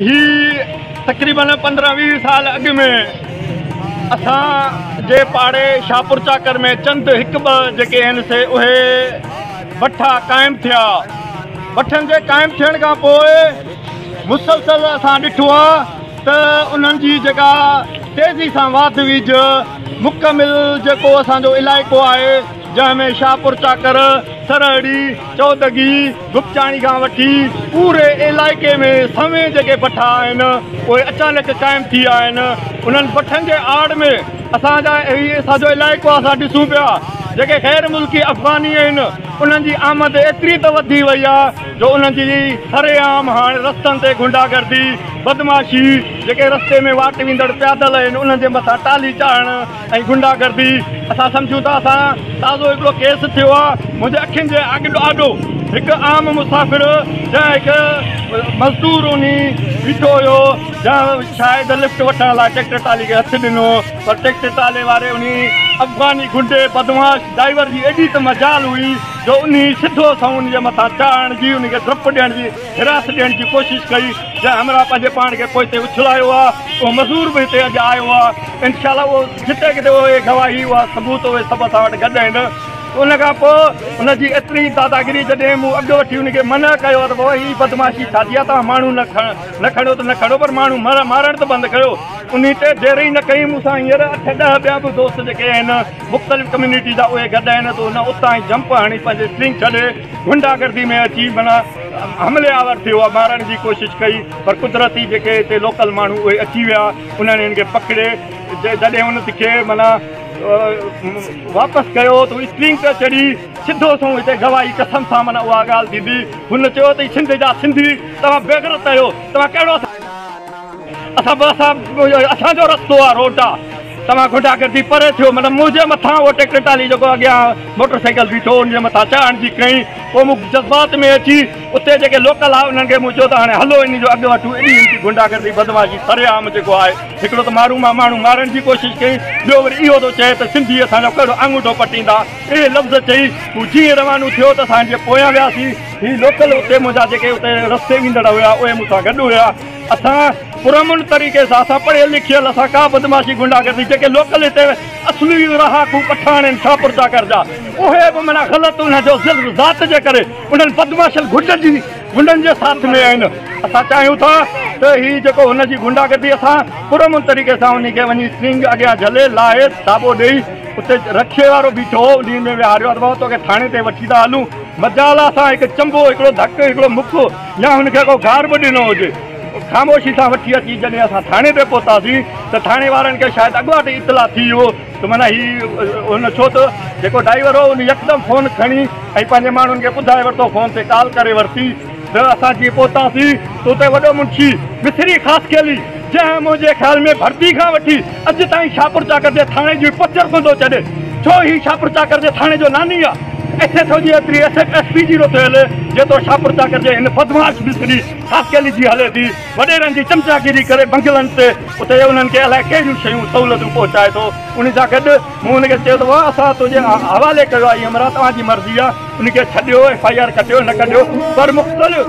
هي تقريبن پندرهن ويهه سال اڳ ۾ اسان جي پاڙي شاهپور چاڪر ۾ چند هڪ ٻه جيڪي آهن سي اهي بٺا قائم ٿيا بٺن جي قائم ٿيڻ کان پوء مسلسل اسان ڏٺو آهي ته انهن جي جيڪا تيزي سان واڌ ويج مڪمل جيڪو اسان جو علائقو آهي جنهن ۾ شاهپور چاڪر سرهڙي چودڳي گپچاڻي کان وٺي پوري علائقي ۾ سوين جيڪي بٺا آهن اهي اچانڪ قائم ٿي ويا آهن انهن بٺن جي آڙ ۾ اسان جا هي ساڄو علائقو آهي اسان ڏسون پيا جيڪي غير ملڪي افغاني آهن انهن جي آمد ايتري ته وڌي وئي آهي جو انهن جي سرعام هاڻ رستن تي غنڊا گردي بدمعاشي جيڪي رستي ۾ واٽ ويندڙ پيادل آهن انهن جي مٿان ٽالي چاڙهڻ ۽ غنڊا گردي اسان سمجهون ٿا اسان تازو هڪڙو ڪيس ٿيو آ منهنجي اکين جي آڳ آڏو هڪ عام مسافر جا هڪ مزدور وڃي بيٺو هيو جا شايد لفٽ وٺڻ لاء ٽيڪٽر ٽالي کي هٿ ڏنو پر ٽيڪٽر ٽالي واري انهي افغاني غنڊي بدمعاش ڊائيور جي ايڏي ته مجال هئي جو انهي سڌو سنئون انهي جي مٿان چاڙهڻ جي انهي کي ڊپ ڏيڻ جي هراس ڏيڻ جي ڪوشش ڪئي جنهن همراهه پنهنجي پاڻ کي پوئتي اڇلايو آ اهو مزور به هتي اڄ آيو آ انشاء الله اهو جتي ڪٿي اهي گواهي اها ثبوت اهي سڀ اسان وٽ گڏ آهن ان کان پوء ان جي ايتري داداگري جڏهن مون اڳ وٺي ان کي منع ڪيو آ ته بابا هي بدمعاشي ڇا جي آ توهان ماڻهو نه نه کڻيو ته نه کڻيو پر ماڻهو مارڻ ته بند ڪيو ان تي دير ئي نه ڪئي مون سان هينئر اٺ ڏهه ٻيا به دوست جيڪي آهن مختلف ڪميونٽي جا اهي گڏ آهن ته ان اتان ئي جمپ هڻي پنهنجي سٽرنگ ڇڏي غنڊا گردي ۾ اچي معنيٰ حملي آور ٿيو ۽ مارڻ جي ڪوشش ڪئي پر قدرتي جيڪي اتي لوڪل ماڻهو اهي اچي ويا انهن هن کي پڪڙي جڏهن ان کي معنيٰ واپس ڪيو ته اسٽرنگ تي چڙهي سڌو سنئون هتي گواهي قسم سان معنيٰ اها ڳالهه ڏني هن چيو ته اي سنڌ جا سنڌي توهان بيغرت آهيو توهان ڪهڙو اسان به اسان اسان جو رستو آ روٽ آ توهان گنڊا گردي پري ٿيو مطلب منهنجي مٿان اهو ٽيڪٽر ٽالي جيڪو اڳيان موٽر سائيڪل بيٺو ان جي مٿان چاڙهن جي ڪئي پوء مون جذبات ۾ اچي اتي جيڪي لوڪل آ انهن کي مون چيو ته هاڻي هلو ان جو اڳ وٺو ايڏي ان جي گنڊا گردي بدمعاشي سري عام جيڪو آهي هڪڙو ته مارون مان ماڻهو مارڻ جي ڪوشش ڪئي ٻيو وري اهو ٿو چئي ته سنڌي اسان جو ڪهڙو آڱوٺو پٽيندا اهي لفظ چئي هو جي روانو ٿيو ته اسان جي پويان وياسي هي لوڪل اتي منهنجا جيڪي اتي رستي ويندڙ هيا اهي مون سان گڏ هيا اسان پرامن طريقي سان اسان پڙهيل لکيل اسان ڪا بدمعاشي غنڊا گردي جيڪي لوڪل هتي اصلي رهاڪو پٺاڻ آهن شاهپور چاڪر جا اهي به معنيٰ غلط انهن جو ظلم ذات جي ڪري انهن بدمعاشن غنڊن جي غنڊن جي ساٿ ۾ آهن اسان چاهيون ٿا ته هي جيڪو هن جي غنڊا گردي اسان پرامن طريقي سان انهي کي وڃي سنگ اڳيان جهلي لاهي ٿاٻو ڏيئي اتي رڪشي وارو بيٺو هو انهي ۾ ويهاريو آ ته بابا توکي ٿاڻي تائين وٺي ٿا هلون مجال آ اسان هڪ چنبو هڪڙو ڌڪ هڪڙو مڪ يا هن کي ڪو گار به ڏنو هجي. خاموشي سان وٺي اچي جڏهن اسان ٿاڻي تي پهتاسين ته ٿاڻي وارن کي شايد اڳواٽ ئي اطلاع ٿي ويو ته معنيٰ هي هن ڇو ته جيڪو ڊائيور هو ان يڪدم فون کڻي ۽ پنهنجي ماڻهن کي ٻڌائي ورتو فون تي ڪال ڪري ورتي ته اسان جيئن پهتاسين ته اتي وڏو منشي مصري خاصخيلي جنهن منهنجي خيال ۾ ڀرتي کان وٺي اڄ تائين شاپورچاڪر جي ٿاڻي جي پچر ڪندو چڏ ڇو هي شاپورچاڪر جي ٿاڻي جو ناني آ ايڇ ايڇ او جي ايتري ايس ايڇ ايس پي جي نو ٿيل جيترو شاپورچاڪر جي هن بدمعاش مصري خاصخيلي جي هلي ٿي وڏيرن جي چمچاگيري ڪري بنگلن تي اتي انهن کي الائي ڪهڙيون شيون سهولتون پهچائي ٿو انهي سان گڏ مون هن کي چيو ته واهه اسان تنهنجي حوالي ڪيو آهي عمران توهان جي مرضي آهي ان کي ڇڏيو ايف آء آر ڪٽيو نه ڪٽيو پر مختلف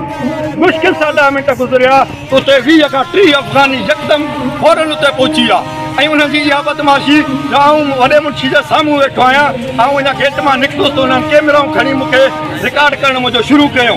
مشڪل سان ڏهه منٽ گذريا اتي ويهه کان ٽيهه افغاني يڪدم فورن اتي پهچي ويا ۽ انهن جي اها بدمعاشي جو آئون وڏي منشي جي سامهون ويٺو آهيان آئون اڃا گيٽ مان نڪتس ته انهن ڪيمرائون کڻي مون کي رڪارڊ ڪرڻ منهنجو شروع ڪيو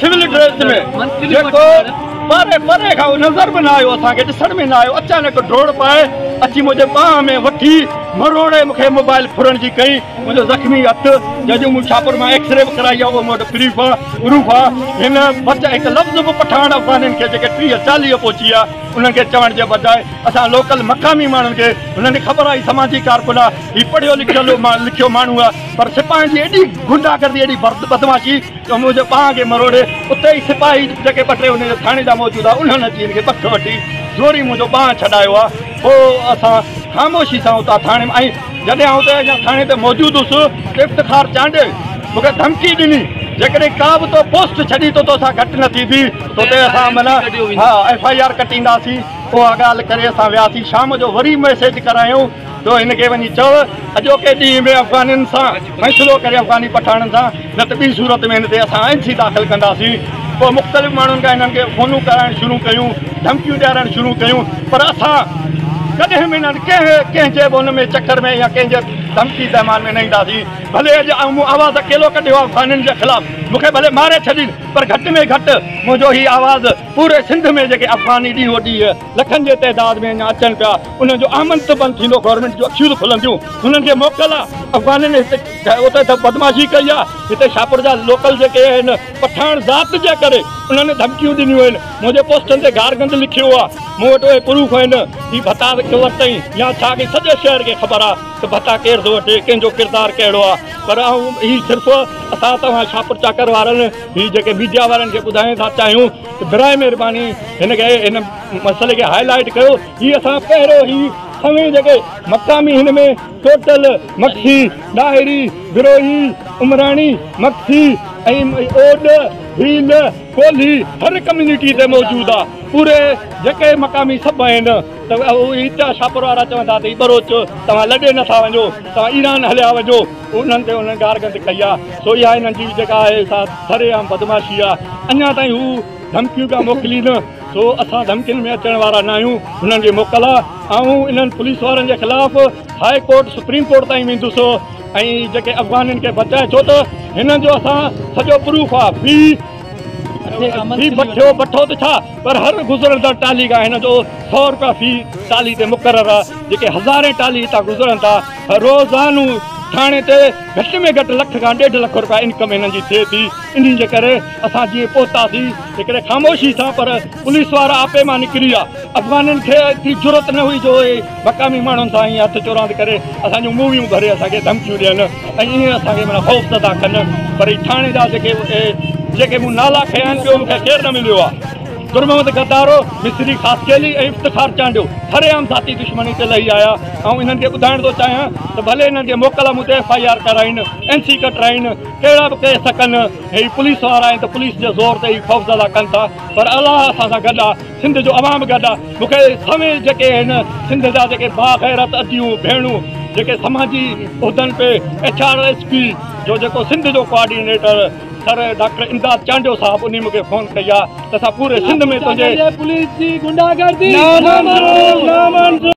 سول ڊريس ۾ جيڪو پري پري کان نظر به نه آيو اسان کي ڏسڻ ۾ نه آيو اچانڪ ڊوڙ پائي اچي منهنجي ٻانهن ۾ وٺي مروڙي مون کي موبائل ڦرڻ جي ڪئي منهنجو زخمي هٿ جنهن جو مون شاهپور مان ايڪس ري به ڪرائي آيو مون وٽ پريف آهي پروف آهي هن بچ هڪ لفظ به پٺاڻ افغانين کي جيڪي ٽيهه چاليهه پهچي ويا انهن کي چوڻ جي بجاء اسان لوڪل مقامي ماڻهن کي هنن کي خبر آهي سماجي ڪارڪن آهي هي پڙهيو لکيل لکيو ماڻهو آهي پر سپاهين جي ايڏي غنڊا گردي ايڏي بدمعاشي ڪموء جي ٻانهن کي مروڙي، اتي ئي سپاهي جيڪي ٻه ٽي انهيء ٿاڻي جا موجود هئا، انهن اچي هن کي پڪ وٺي، زوري منهنجو ٻانهن ڇڏايو آ. پوء اسان خاموشي سان اتان ٿاڻي مان ۽ جڏهن آئون ته اڃا ٿاڻي تي موجود هوس ته افتخار چانڊيي مون کي ڌمڪي ڏني، جيڪڏهن ڪا به تو پوسٽ ڇڏي ته توسان گهٽ نه ٿيندي، توتي اسان معنيٰ ايف آء آر ڪٽينداسين. اها ڳالهه ڪري اسان وياسين. شام جو وري ميسيج ڪرايائون. تو هن کي وڃي چئو، اڄوڪي ڏينهن ۾ افغانين سان فيصلو ڪري افغاني پٺاڻن سان، نه ته ٻي صورت ۾ هن تي اسان آئين سي داخل ڪنداسين. پوء مختلف ماڻهن کان هنن کي فونون ڪرائڻ شروع ڪيون، ڌمڪيون ڏيارڻ شروع ڪيون، پر اسان ڪڏهن به انهن ڪنهن ڪنهن جي به ان ۾ چڪر ۾ يا ڪنهن جي ڌمڪي تهمان ۾ نه اينداسين. ڀلي اڄ آئون مون آواز اڪيلو ڪڍيو آهي افغانين جي خلاف، مون کي ڀلي ماري ڇڏين، پر گهٽ ۾ گهٽ منهنجو هي آواز پوري سنڌ ۾ جيڪي افغاني ڏينهون ڏينهن لکن جي تعداد ۾ اڃا اچن پيا انهن جو احمد ته بند ٿيندو گورنمينٽ جون اکيون ته کلنديون انهن کي موڪل آ افغانن هتي اتي ته بدمعاشي ڪئي آ هتي شاهپور جا لوڪل جيڪي آهن پٺاڻ ذات جي ڪري انهن ڌمڪيون ڏنيون آهن منهنجي پوسٽن تي گار گند لکيو آ مون وٽ اهي پروف آهن هي ڀتا ڪيو ورتائين يا ڇا ڪيئي سڄي شهر کي خبر آ ته ڀتا ڪير ٿو وٺي ڪنهن جو ڪردار ڪهڙو آ پر آئون هي صرف اسان توهان شاهپور چاڪر وارن هي جيڪي ميڊيا وارن کي ٻڌائين ٿا چاهيون براء مهرباني هن کي هن مسئلي کي هاء لائيٽ ڪيو جي اسان پهريون هي سوين جيڪي مقامي هن ۾ ٽوٽل مگسي ڏاهري بروهي عمراڻي مگسي ۽ اوڏ ڀيل ڪولهي هر ڪميونٽي تي موجود آ پوري جيڪي مقامي سڀ آهن ته اهو هي اتيا شاهپور وارا چون ٿا ته هي بروچ توهان لڏي نٿا وڃو توهان ايران هليا وڃو انهن تي انهن گارگند ڪئي آهي، سو اها انهن جي جيڪا آهي سا سري عام بدمعاشي آهي، اڃا تائين هو ڌمڪيون پيا موڪلين، سو اسان ڌمڪين ۾ اچڻ وارا ناهيون، هنن جي موڪل آهي، آئون انهن پوليس وارن جي خلاف هاء ڪورٽ، سپريم ڪورٽ تائين ويندس ۽ جيڪي افغانين کي بچائي ڇو ته هنن جو اسان سڄو پروف آهي، في بٺيو بٺو ته ڇا پر هر گذرندڙ ٽالهي کان هنن جو سؤ روپيا في ٽالهي تي مقرر آهي، جيڪي هزارين ٽالهي هتان گذرن ٿا. روزانو ٿاڻي تي گهٽ ۾ گهٽ لک کان ڏيڍ لک رپيا انڪم هنن جي ٿئي ٿي انهي جي ڪري اسان جيئن پهتاسين هڪڙي خاموشي سان پر پوليس وارا آپي مان نڪري ويا افغانين کي ايتري جرئت نه هئي جو اهي مقامي ماڻهن سان ائين هٿ چوراند ڪري اسان جون موويون ڀري اسان کي ڌمڪيون ڏين ۽ ائين اسان کي معنيٰ خوفزده ڪن پر هي ٿاڻي جا جيڪي جيڪي مون نالا کنيا آهن ٻيو مون کي ڪير نه مليو آهي در محمد غدارو، مصري خاصخيلي ۽ افتخار چانڊيو سر عام ذاتي دشمني تي لهي آيا. آئون انهن کي ٻڌائڻ ٿو چاهيان ته ڀلي انهن کي موڪل مدي ايف آء آر ڪرائين، اين سي ڪٽرائين، ڪهڙا به ڪيس ڪن، هي پوليس وارا آهن ته پوليس جي زور تي ئي خوفزده ڪن ٿا پر الله اسان سان گڏ آ، سنڌ جو عوام گڏ آ. مون کي سوين جيڪي هن سنڌ جا جيڪي باغيرت اديون ڀيڻون جيڪي سماجي عهدن تي ايڇ آر ايس پي جو جيڪو سنڌ جو coordinator, sir doctor Imdad Chandio sahib انهي مونکي فون ڪئي آ ته اسان پوري سنڌ ۾ تنهنجي پوليس جي غنڊا گردي نامنظور نامنظور